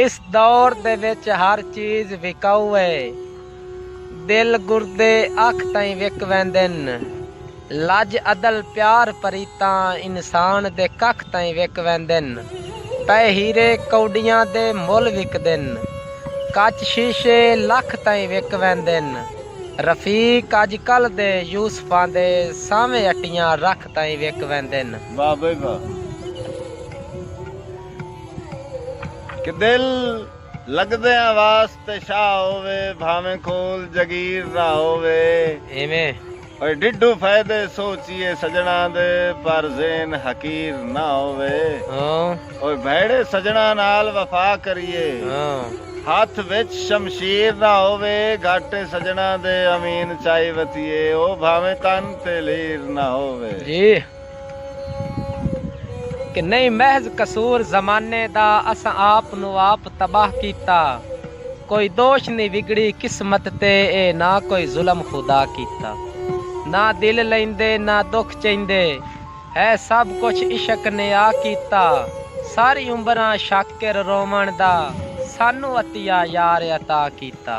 اس دور دے وچ ہر چیز وکاؤ اے۔ دل گردے اکھ تئیں وک ویندن۔ لج عدل پیار پریتاں انسان دے ککھ تئیں وک ویندن۔ پئے ہیرے کوڈیاں دے مل وکدن۔ کچ شیشے لکھ تئیں وک ویندن۔ رفیق اج کل دے یوسفاں دے سانویں اٹیاں رکھ تئیں وک ویندن۔ واہ بھئی واہ۔ کہ دل لگدیاں واس تے شاہ ہووے بھاویں کول جگیر نہ ہووے ایویں۔ اوئے ڈیڈھو فائدے سوچیے سجناں دے پر ذہن حقیر نہ ہووے اوئے بھیڑے سجناں نال وفا کریے ہتھ وچ شمشیر نہ ہووے گھاٹے سجناں دے امین چائی وتھیے او بھاویں تن تے لیر نہ ہووے۔ کہ نئیں محض قصور زمانے دا اساں آپ نوں آپ تباہ کیتا کوئی دوش نی وگڑی قسمت تے اے نہ کوئی ظلم خدا کیتا نہ دل لیندے نہ دکھ چیندے ہے سب کچھ عشق نے آ کیتا ساری عمراں شاکر روون دا سانوں عطیہ یار عطا کیتا۔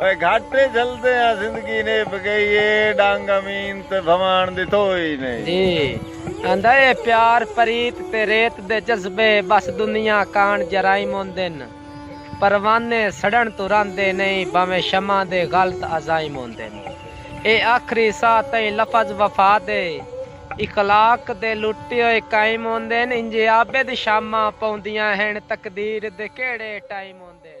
اوئے گھٹ اے جھلدے آں زندگی نیب گئی اے ڈنگ امین تے بھواݨ دی تھوئی نئیں۔ جی آندا اے پیار پریت تے ریت دے جذبے بس دنیا کاݨ جرائم ہوندن پروانے سڑݨ توں رہندے نئیں بھانویں شمع دے غلط عزائم ہوندن اے آخری ساہ تئیں لفظ وفا دے اخلاق دے لٹے ہوئے قائم ہوندن انجھے عابد شاماں پوندیاں ہن تقدیر دے کیڑھے ٹائم ہوندن۔